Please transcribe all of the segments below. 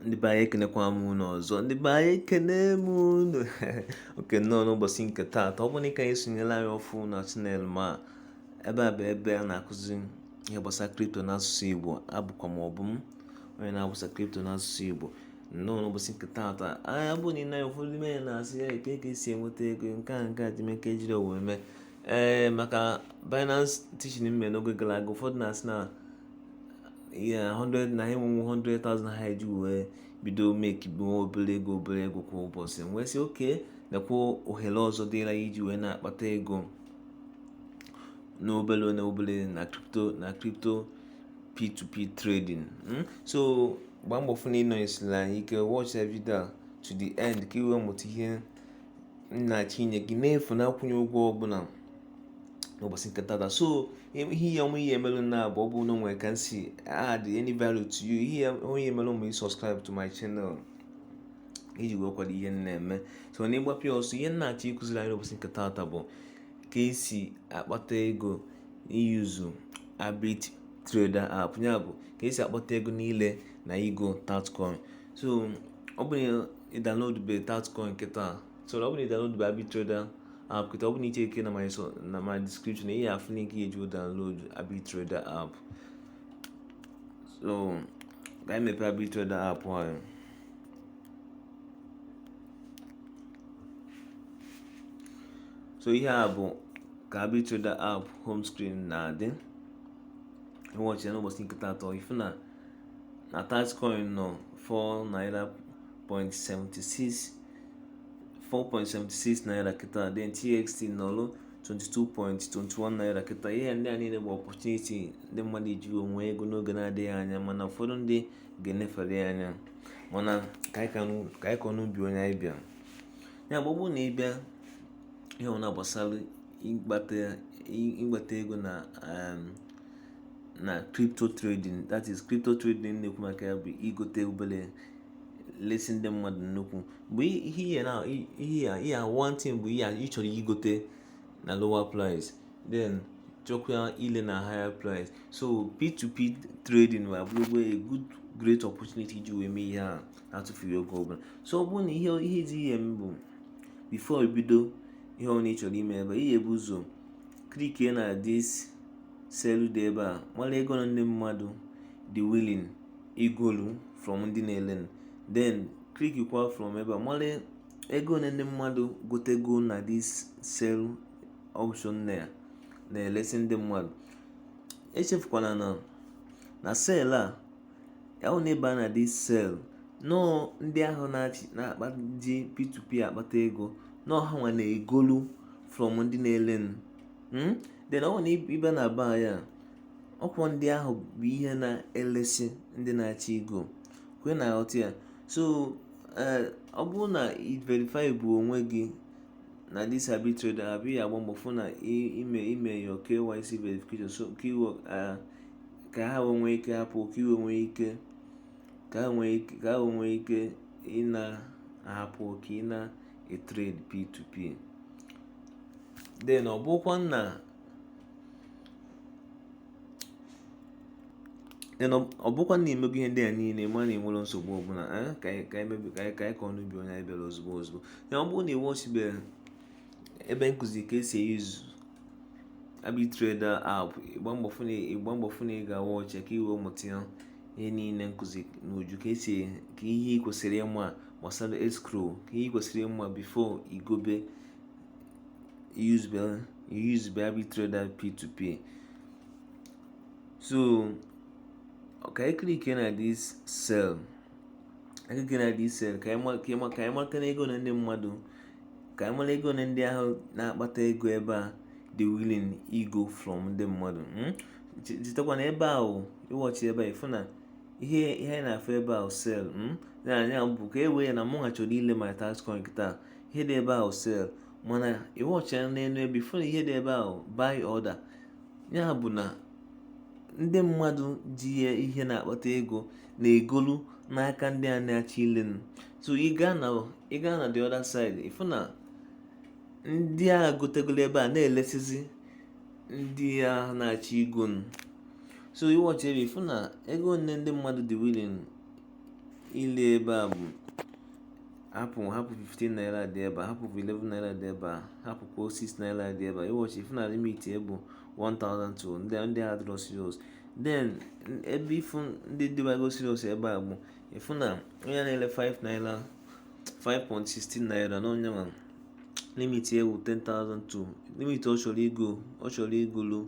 ndị be anyị ekenekwa m unu ọzọ ndị be anyị ekene m unu oke nnọọ n'ụbọchị nke taata ọ bụrụ na ị ka na-esonyela anyị ọfụ na channel m a ebe a bụ ebe a na-akụzi ihe gbasara crypto n'asụsụ igbo abụkwa m Obum onye na-agbasa crypto n'asụsụ igbo nnọọ n'ụbọchị nke taata anya bụ na ị naghị ụfọdụ ime ya na-asị ya eke ka esi enweta ego nke a nke a dị meke jiri wee mee ee maka Binance teaching m me n'oge gara aga ụfọdụ na-asị na ihe 100 na enwenwu 100,000 ha eji wee bido mekibe obere ego obere ego kwa ụbọchị wee sị okay nekwa ohere ọzọ dịra iji wee na-akpata ego n'obere na obere na crypto na crypto p2p trading hmm? so gbaa mbọ fụ na ị nọnyesiri anyị ike watch the video to the end ka ị wee mụta ihe m na-achọ inye gị n'efu na akwụnye ụgwọ ọbụla n'ụbọchị nke taata so ihe ya ọmụ ihe emelụ na abụ ọ bụ na o nwe ka m si add any value to you ihe ya onye emelụ ma ị subscribe to my channel iji wee kwado ihe m na-eme so na ịgbapụ ya ọsọ ihe m na-achọ ịkụziri anyị n'ụbọchị nke taata bụ ka esi akpata ego i use Abitrader app ya bụ ka esi akpata ego niile na ịgo tatcoin so ọ bụrụ ị downloadube tatcoin kịta so na ọ bụrụ na ị downloadube Abitrader app kịta ọ bụrụ na ị checkie na my so na my description ị ya-afụ link ị ya-eji wee download Abitrader app so ka anyị mepee Abitrader app ahụ so ihe a bụ ka Abitrader app home screen na-adị ị watchie ya n'ụbọchị nke taata ị fụ na na Tatcoin nọ 4 naira 0.76 4.76 naira kịta then txt nọlụ 22.21 naira kịta ihe ndị a niile bụ opportunity ndị mmadụ eji enwe ego n'oge na-adịghị anya mana ụfọdụ ndị ga-enefere ya anya mana ka anyị kọ n'ubi onye anyị bịa ya bụ ọ bụ na ị bịa n'ihe gbasara ịkpata ego na um, na crypto trading that is crypto trading na-ekwu maka ya bụ ịgote obere lesi ndị mmadụ nnukwu bụ ihe ihe na ihe ya ihe one thing bụ ihe ị chọrọ ịgote na lower price then chọkwa ile na higher price so p2p trading a abụrụgo a good great opportunity iji wee mee ihe a na-atụfughị oge ọbụla so ọ bụrụ na ihe ihe dị ihe mbụ before bido ihe ọ na ị chọrọ ime ebe a ị ya-ebu ụzọ clickie na this sell dị ebe a mara ego na ndị mmadụ dị willing igolu from ndị na-ele then kwa from ebe a mara ego one ndị mmadụ gotego na this sell option na ya na-elesi ndị mmadụ echefukwana na na sell a ahụ na ị baa na this sell na ọọ ndị ahụ na-akpa ji p2p akpata ego na ọọ ha nwa na-egolu from ndị na-ele then ọ na ị bịa na buy a ọkwa ndị ahụ bụ ihe na-elesi ndị na-achọ igo ọkwa ị na-aghọta ya so eh, ọ bụrụ na i verify bụ onwe gị na this ABiTrader app ị ya-agba mbọ fụ na i me i mee your KYC verification so ka i wee eh, ka ha nwee ike hapụ ka i wee nwee ike ka ha nwee ike ị na-ahapụ ka ị na-etrade P2P then ọ bụkwa na ọ bụkwa na i mego ihe ndị a niile mana i nwere nsogbu ọbụla eh, ka anyị kọọ n'ubi onye anyị bịara ozugbo ozugbo ya ọ bụrụ na ị watchibero ebe m kụzi ka e si e-use ABiTrader app ị gbaa mbọ fụ na ị ga-awatch ya ka i wee mụta ya ihe niile m kụzi n'uju ka esi ka ihe ị kwesịrị ịma gbasara escrow ka ihe ị kwesịrị ịma before i gobe usebe usebe ABiTrader p2p so ka anyị clickie na this sell anyị clickie na this sell ka anyị mata na ego one ndị mmadụ ka anyị mara ego one ndị ahụ na-akpata ego ebe a dị willing igo from ndị mmadụ hmm? chetakwa na ebe ahụ ị watchie ebe a ị fụ na ihe ihe anyị na-afụ ebe ahụ sell hmm? na ya bụ ka e were ya na mụwa chọrọ ile my Tatcoin taa ihe dị ebe ahụ sell mana ị watchie n'elu ebe a ị fụ na ihe dị ebe ahụ buy order ya bụ na ndị mmadụ ji ya ihe na-akpata ego na-egolu n'aka ndị a na-achọ ile so ị gaa na the other side ị fụ na ndị a gotegolo ebe a na-elesizi ndị a na-achọ igo so ị watchie ebe a ị fụ na ego one ndị mmadụ dị willing ile ebe a bụ hapụ hapụ 15 naira dị ebe a hapụ 11 naira dị ebe a hapụ kwa 6 naira dị ebe a ị watchie ị fụ na limit ya bụ 1000 to ndị ndị a adịrọ serious then ebe ị fụ ndị dịbago serious ebe a bụ ị fụ na onye na-ele 5 naira 5.16 naira na onye nwa limit ya bụ 10,000 to limit ọ chọrọ igo ọ chọrọ igolu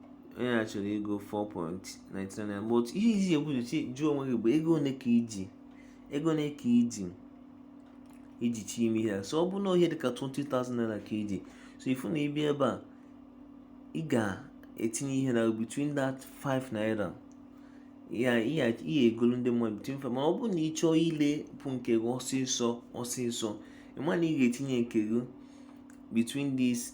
onye a chọrọ igo 4.99 but ihe iji ekwu jụọ onwe gị bụ ego one ka iji ego one ka iji iji chọ ime ihe so ọ bụ na ihe dịka 20,000 naira ka iji so ifu na ịbịa ebe a ị ga-etinye ihe na between that 5 naira ya ihe egolu ndị mmadụ between 5 mana ọ bụrụ na ị chọọ ilepụ nke gị ọsịsọ ọsịsọ ịma na ị ga-etinye nke gị between these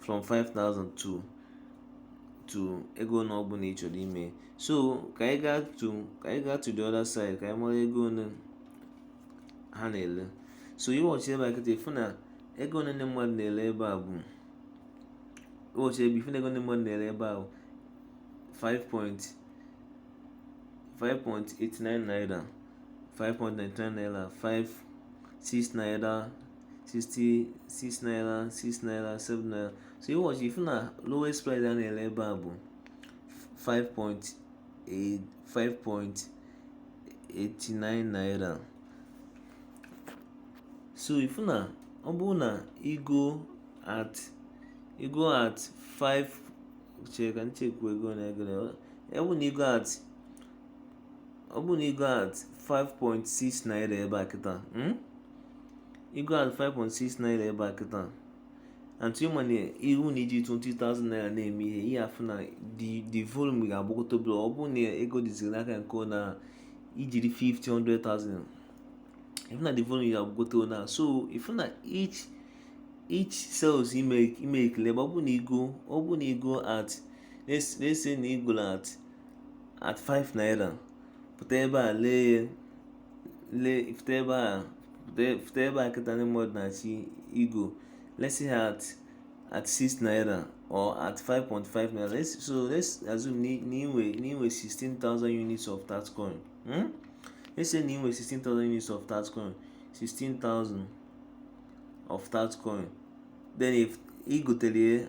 from 5000 to to ego one ọ bụla ị chọrọ ime so ka anyị gaa to ka anyị gaa to the other side ka anyị mara ego one ha na-ele so ị watchie ebe a kịta ịfụ na ego one ndị mmadụ na-ele ebe a bụ ị watchie ebe ịfụ na ego ndị mmadụ na-ele ebe a bụ 5.89 naira 5.99 naira 5 6 naira 6 6 naira 6 naira 7 naira so ị watchie ifu na lowest price a na-ele ebe a bụ 5.89 naira so ifu na ọ bụrụ na igo at igo at 5 chere ka m checkwa ego na-egere ọ bụ na igo at ọ bụrụ na igo at 5.6 naira ebe a kịta hmm? igo at 5.6 naira ebe a kịta and ịma na ihu na iji 20,000 naira na-eme ihe ị ya-afụ na the volume ga-agbagota obere ọ bụrụ na ego dịziri n'aka nke na ijiri 50,000 ifu na the volume ga-agbagota na so ifu na each each sales ị makelụ ọ bụ na igo ọ bụ na igo at let's say na igo at at 5 naira pụta ebe a lee ya lee pụta ebe a pụta ebe a kịta ndị mmadụ na-achọ igo let's say at at 6 naira or at 5.5 naira let's so let's assume na inwe na inwe 16000 units of that coin hmm? let's say na inwe 16000 units of that coin 16000 of that coin then if igotelie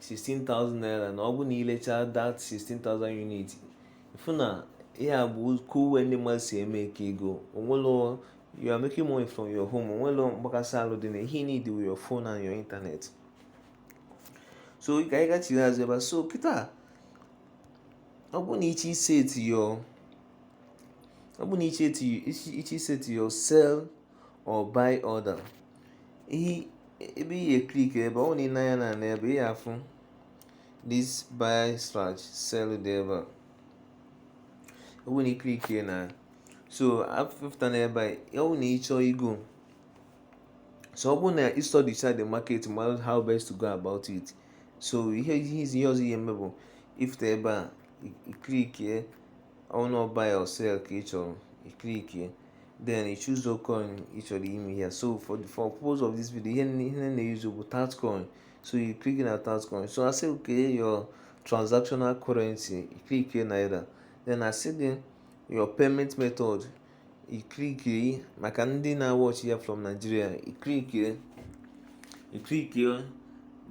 16,000 naira na ọ bụ na ilecha that 16,000 unit ịfụ na ihe a bụ ka uwe ndị mmadụ si emake ego onwelo you are making money from your home onwelo mgbakasị alụ dị na ihe ị need is your phone and your internet so ka anyị gachiri azụ ebe so kịta ọ bụ na ị chọ iseti your ọ bụ na ị chọ iseti your sell or buy order ihe ebe ị ga-eklik ebe ọ na ị na-anya na n'ebe ị ga-afụ this buy slash sell dị ebe a ọ bụ na iklik na so afụfụta n'ebe a ọ bụ na ịchọọ igo so ọ bụ na ị study the market mara how best to go about it so ihe ihe izi ihe ọzọ ị ya-eme bụ ifute ebe a iklikie on buy or sell ka ị chọrọ iklikie then you choose the coin you chọrọ ime here so for the for purpose of this video ihe ihe na-use bụ coin so you click na coin so I say okay your transactional currency you click here naira then I say then your payment method you click here maka ndị na-watch ya from Nigeria you click here iklikie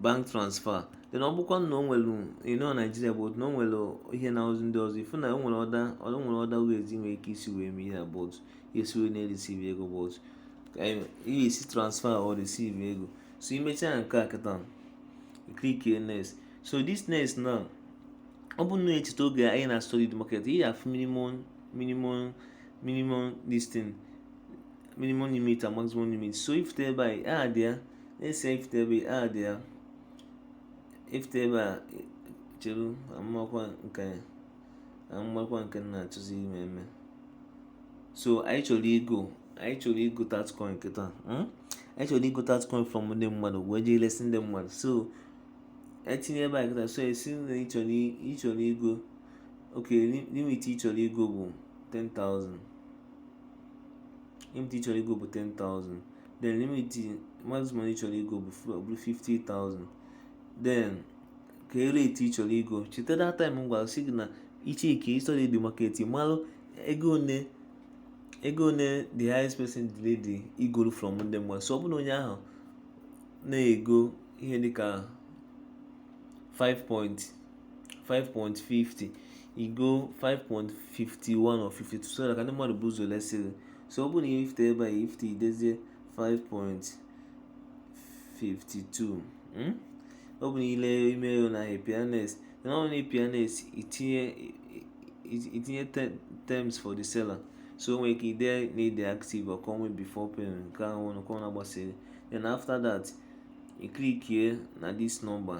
bank transfer then ọ bụkwa na o nwere ịnọ naijiria bụ na o nwere ihe na ozi ndị ọzọ ifu na o nwere other o nwere other ways ị nwere ike isi wee mee ihe but esi wee na-ereceive ego but ihe esi transfer or receive ego so imechaa nke a kịta klikie next so this next now ọ bụ na echeta oge anyị na study the market ị ya-afụ minimum minimum minimum this thing minimum limit and maximum limit so ifute ebe a idee ya let's say ifute ebe a idee ya ifute ebe a cheru amakwa nke amakwa nke m na-achọzi ime eme so anyị chọrọ igo anyị chọrọ igo tatcoin kịta hmm? anyị chọrọ igo tatcoin from ndị mmadụ wee jee lesi ndị mmadụ so itinye ebe a kịta so esi na ịchọrọ igo okay limit ịchọrọ igo bụ 10,000 limit ịchọrọ igo bụ 10,000 then limit maximum ịchọrọ igo bụ 50,000 then ka e rate ị chọrọ igo cheta that time m gwara sị gị na ichekie i study the market malụ ego one ego one the highest person dị ready igoro from ndị mmadụ so ọ bụ na onye ahụ na-ego ihe dịka 5 point 5.50 igo 5.51 or 52 so na ka ndị mmadụ bụ ụzọ lesi gị so ọ bụrụ na ihe ifute ebe a ifute idezie 5.52 hmm? ọ bụ na ile ime ego na APNS na ọ na APNS itinye itinye terms for the seller so nwere ike ide na ide active or call me before payment nke ahụ nke ọ na-agbasiri then after that iklikie na this number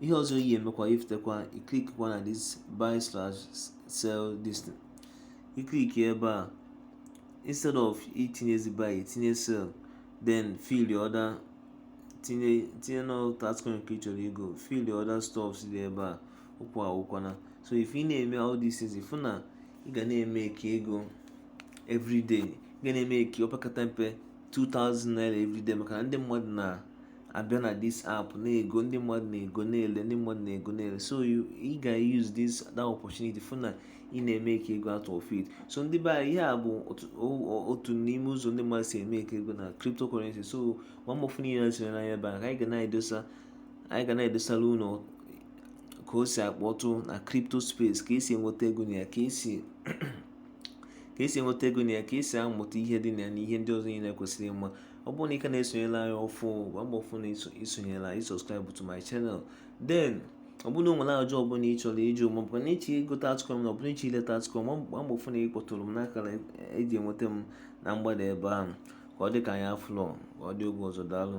ihe ọzọ ị ya-emekwa ifutekwa iklikwa na this buy slash sell this thing iklikie ebe a instead of itinyezi buy itinye sell then fill your order tinye tinye na tatcoin nke ị chọrọ igo fill the other stuffs dị ebe a okwu agwụkwana so if ị na-eme all these things ifu na ị ga na-emeke ego everyday ị ga na-emeke opekata mpe 2000 naira everyday maka na ndị mmadụ na abịa na this app na-ego ndị mmadụ na-ego na-ele ndị mmadụ na-ego na-ele so ị ga use this that opportunity fụ na ị na-emeke ego out of it so ndị be anyị ihe a bụ otu n'ime ụzọ ndị mmadụ si emeke ego na cryptocurrency so gbaa mbọ fụ na ị na-esonyere anyị ebe a ka anyị ga na-edosa anyị ga na-edosara unu ka o si akpọtụ na crypto space ka esi enweta ego na ya ka esi ka esi enweta ego na ya ka esi amụta ihe dị na ya na ihe ndị ọzọ niile kwesịrị ịma ọ bụrụ na ị ka na-esonyela anyị ọfụ gbaa mbọ fụ na i sonyela i subscribe to my channel then ọ bụrụ na o nwere ajụjụ ọbụla ị chọrọ ịjụ ma ọbụkwa na ịchọ igote altcoin ọbụla ịchọ ileta altcoin gbaa mbọ fụ na ị kpọtụrụ m n'akara eji enweta m na mgbada ebe ahụ ka ọ dị ka anyị afụlọ ka ọ dị oge ọzọ daalụ